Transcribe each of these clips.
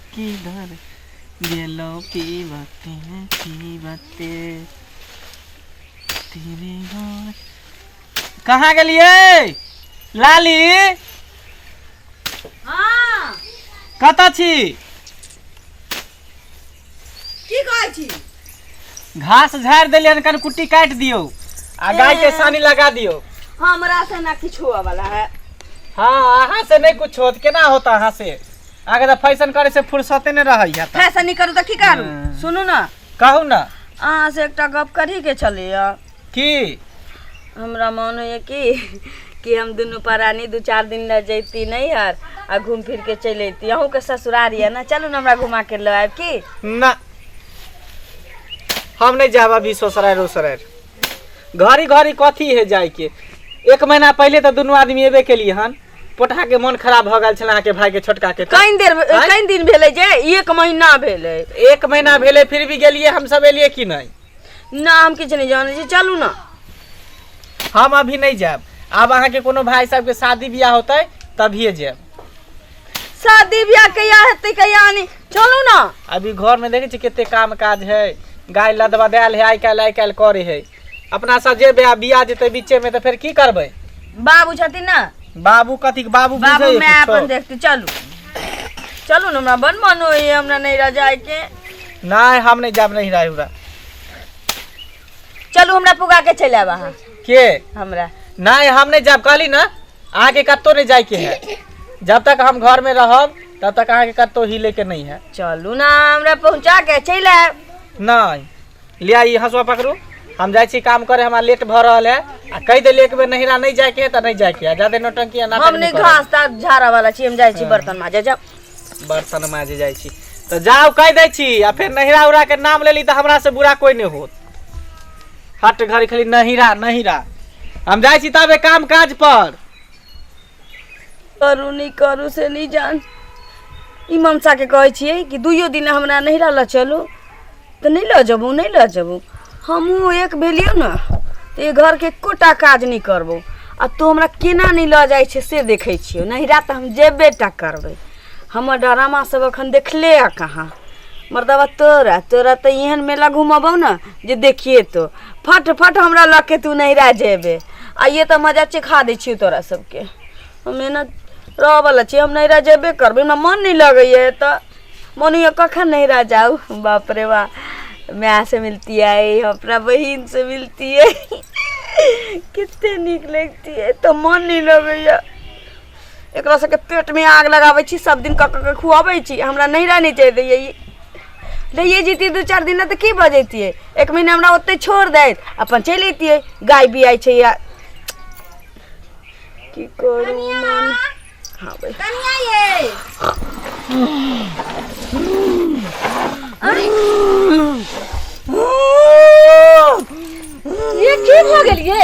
किधर गेलो की बाते की बाते तेरे घर कहाँ गेलिए लाली हाँ कतऽ छी की कहै छी घास झाड़ि देलियै हन कनि कुट्टी काटि दियौ आ गाय के सानी लगा दियौ हमरा से ना किछु हुआ वाला है हाँ अहाँ से नहीं कुछ होत केना होता अहाँ से अहाँ के तो फैशन करे से फुर्सते नहीं रहै है फैशन नहीं करू तऽ की करू हाँ। सुनू ना कहू ना अहाँ से एकटा गप करी के छलैया की हमरा मोन होइए कि कि हम दुनू परानी दू चारि दिन लए जैती नहि हर आ घूम फिर के चलि अयती अहूँके ससुरार यऽ ने चलू ने हमरा घुमा के लऽ आयब की ना हम नहीं जाब अभी ससुरार उसुरार घड़ी घड़ी कथी है जाय के एक महीना पहले तो दोनों आदमी एबे के लिए हन पोटहा के मन खराब भ गेल छल अहाँ के भाई के छोटका के तऽ। कनि देर आँय? कनि दिन भेलै जे एक महीना भेलै एक महीना भेले फिर भी गेलिए हम सब एलिए कि नहीं ना हम किछु नहि जानै छी चलू ना हम अभी नहीं जाब आब अहाँ के कोनो भाई साहब के शादी ब्याह होते तभिए जाब शादी ब्याह कहिया हेतै कहिया नहि चलू ना अभी घर में देखे छी कते काम काज है गाय लदवा देल है आइ काल्हि आइ काल्हि करे है अपना सब जेबे आ बिया जेते बीचे में तो फिर की करबे बाबू छथिन ना बाबू कथी के बाबू बाबू बुझै मैं कुछो? अपन देखती चलू चलू ना हमरा बन मन होइए हमरा नहीं रह जाए के नहीं हम नहीं जाब नहीं रहे उरा चलू हमरा पुगा के चले आब अहाँ के हमरा नहीं हम नहीं जाब कहली ना अहाँ के कत्तो नहीं जाए के है जब तक हम घर में रहब तब तक अहाँ के कत्तो हिले के नहीं है चलू ना हमरा पहुँचा के चले आब नहीं लिया ई हंसुआ पकड़ू हम जाइ छी काम करे हमरा लेट भऽ रहल है आ कहि देलियै एक बेर नहिरा नहि जायके है तऽ नहि जायके है जादे नौटंकी आ नाटक हम नहि करब। घास ता झाड़ा वाला छी हम जाइ छी बर्तन माजे जाओ बर्तन माजे जाइ छी तऽ जाउ कहि दै छी आ फेर नहिरा उरा के नाम लेली तऽ हमरा से बुरा कोई नहि होत हट घड़ी खाली नहिरा नहिरा हम जाइ छी तबे काम काज पर करू नहि करू से नहि जान ई ममसाके कहै छियै कि दुइयो दिन हमरा नहिरा लऽ चलू तऽ नहि लऽ जेबू नहि लऽ जेबू हमहूँ एक भेलियौ ने तऽ ई घरके एकोटा काज नहि करबौ आ तू हमरा केना नहि लऽ जाइ छै से देखै छियौ नहिरा तऽ हम जेबे टा करबै हमर डरामा सब एखन देखले आ कहाँ मर्दबा तोरा तोरा तऽ एहन मेला घुमबौ ने जे देखिए तो फट फट हमरा लऽ के तू नहिरा जेबे आइए तऽ मजा चिखा दै छियौ तोरा सबके हम एना रहऽवला छी हम नैहरा जेबे करबै हमरा मन नहि लगैए एतऽ मन होइए कखन नैहरा जाउ बाप रे बा मायसँ मिलतियै अपना बहिनसँ मिलतियै कते नीक लगितियै एतऽ मन नहि लगैए एकरा सबके पेटमे आग लगाबै छी सब दिन कऽ कऽ खुअबै छी हमरा नैहरा नहि जाए दैए ई रहिए जैतियै दू चारि दिन तऽ की भऽ जैतियै एक महीना हमरा ओतै छोड़ दैत अपन चलि अइतियै गाय बियाइ छै या की करू मन हाँ भाई ये की भऽ गेल ये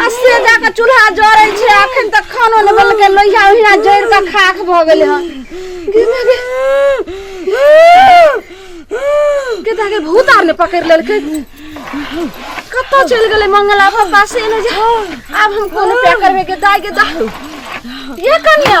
आ से जाके चूल्हा जरै छै अखन तक खानो नहि बनलकै लोहिया ओहिना जरि कऽ खाक भऽ गेलै हन केता के भूत आर ने पकड़ि लेलकै कतऽ चलि गेलै मंगला पापा से एने जे आब हम कोन पे करबे के दाय के दाह ये कन्या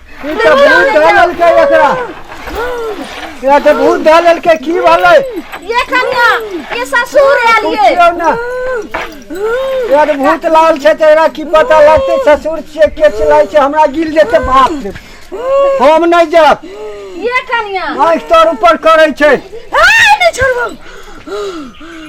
ई तऽ भूत धऽ लेलकै एकरा एकरा तऽ भूत धऽ लेलकै की भेलै ये कन्या ये ससुर आयल ये पूछियौ ने एकरा तऽ भूत लागल छै तऽ एकरा की पता लगतै ससुर छियै के चिल्लाइ छै हमरा गिर जेतै बाप रे हम नहि जायब ये कन्या आँखि तोर ऊपर करै छै हाय नहि छोड़बो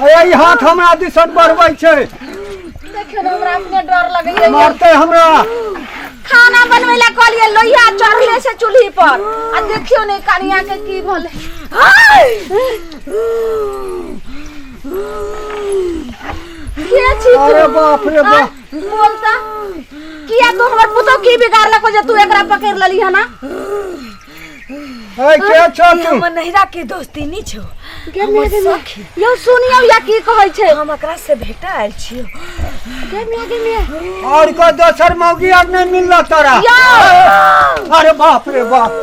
अरे ई हाथ हमरा दिसन बढ़बै छै देखियो ना हमरा अपने डर लगैया मारतै हमरा खाना बनबै ला कहलिए लोहिया चढ़ले से चूल्ही पर आ देखियो ने कनिया के की भले के छी अरे बाप रे बाप बोल त किया तू हमर पुतो की बिगाड़ला को जे तू एकरा पकड़ लली है ना है के छ ई तू हमर नहिरा के दोस्ती नी छो गे मिया गे मिया यो सुनियो या की कहै छै हम एकरा से भेटा आयल छियो गे मिया गे मिया और को दोसर मौगी आर नहीं मिलला तोरा यो अरे बाप रे बाप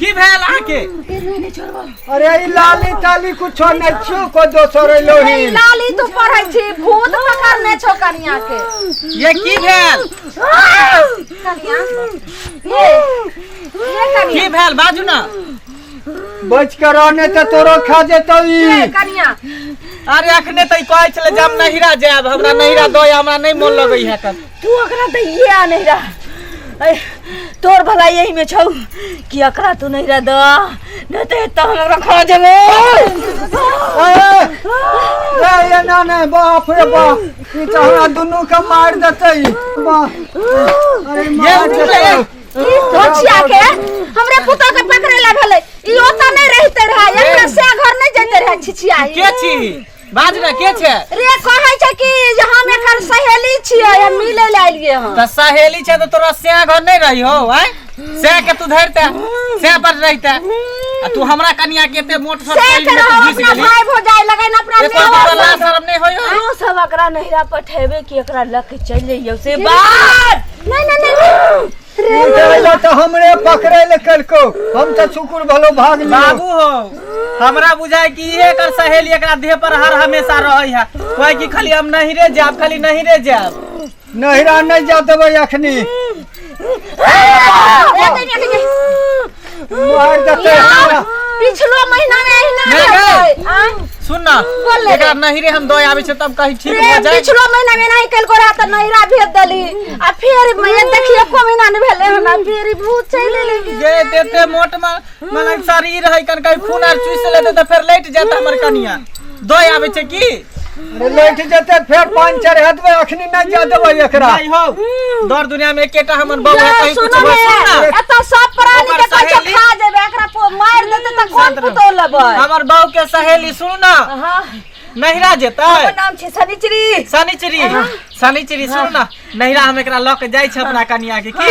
की भेल आके अरे ई लाली ताली कुछो नै छु को दोसर अरे लोही लाली तू पढ़ै छी भूत पकड़ने छौ कनिया के ये की भेल कनिया ये ये की कनिया भेल बाजू ना बच के रहने त तोरो खा जेतौ ई ये कनिया अरे अखने तई कहै छले जे हम नहिरा जायब हमरा नहिरा दो हमरा नहीं मोन लगै है कन तू ओकरा दैये आ नहीं रहा ऐ, तोर भला यही में छौ कि अकरा तू नहीं रह द नहीं तो एता हम ओकरा खा देबो ए ना ना बाप रे बाप ई तो हमरा दुनू के मार देतै बाप अरे मार देतै ई धोछिया के हमरे पुता के पकड़े ला भेलै ई ओता नहीं रहते रहा एकरा से घर नहीं जते रहा छिछिया ई। के छी बाज ना के छे रे कहै छै कि जे हम एकर सहेली छियै हम मिलै ले आइलिए हँ त सहेली छे त तोरा से घर नहीं रही हो आय से के तू धरते से पर रहते आ तू हमरा कनिया के ते मोट छोट से कइली कर में तू हम घुस अपना गेली भाई भौजाई लगन अपना एको नेवा बाबा ला शर्म नहीं होई हो तू सब एकरा नहिरा पठेबे कि एकरा लक चल जइयो से बात नहीं नहीं नहीं उठेला तऽ हमरे पकड़े ले कलको हम तऽ सुकुर भलो भाग लियो बाबू हो हमरा बुझाय कि इहे एकर सहेली एकरा देह पर हर हमेशा रहै है कोई कि खाली हम नहीं रे जाब खाली नहीं रे जाब नहिरा नहीं जा देबै अखनी ए, तनी, तनी। मार देते हमरा पिछलो महीना में एहिना नहि गए। रहलै। आँय? सुन ना बोल ले एकरा नहीं रे हम दो आवे छै तब कहीं ठीक हो प्रेम जाए पिछलो महीना में नहीं कल गोरा त नैरा भेज देली आ फिर मैं देखिए को महीना ने भेले हमरा फिर भूत चले लगी गे देते मोट में मन शरीर है कन कहीं खून आर चूस लेते तो फिर लेट जाता हमर कनिया दो आवे छै की अरे लैठ जेते फेर पान चढ़ हटबे अखनी नहीं जा देबे एकरा नहीं हो दर दुनिया में एकेटा हमर बहू है कहीं कुछ सुनो बस सुन ना ना एत सब प्राणी ओकर के कच्चा सहेली। खा देबे एकरा पो मार देते त कौन शांत रहो। पुतो लेबे हमर बहू के सहेली सुन ना हां नहिरा जेतै नाम छै सनिचरी शनिचरी शनिचरी सुन ना नहिरा हम एकरा लऽ के जाइ छै अपना कनिया के की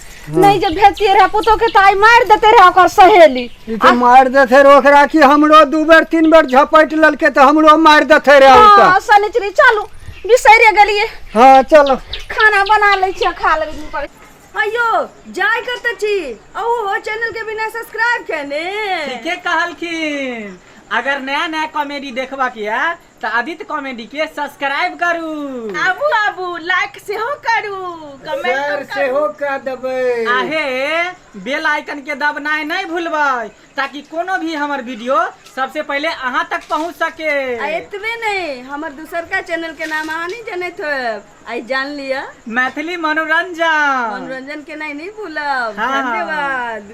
नहीं जब भेजती रहे पुतो के ताई मार देते रहे ओकर सहेली ई तो मार देते रहे ओकरा कि हमरो दू बेर तीन बेर झपट ललके तो हमरो मार देते रहे उ हाँ, त शनिचरी चलू बिसैरे गेलिए हाँ चलो खाना बना ले छिए खा ले पर अयो जाय करते छी अहो हो चैनल के बिना सब्सक्राइब कने ठीके कहलखिन अगर नया नया कॉमेडी देखबा के है तऽ आदित्य कॉमेडी के सब्सक्राइब करू आबू आबू लाइक सेहो करू कमेंट सेहो कऽ देबै आहे बेल आइकन के दबनाइ नहि भूलबै ताकि कोनो भी हमर वीडियो सबसे पहले अहाँ तक पहुंच सके आ एतबे नहि हमर दोसरका चैनल के नाम अहाँ नहि जनैत होयब आइ जान लिअ मैथिली मनोरंजन मनोरंजन केनाइ नहि भूलब हाँ। धन्यवाद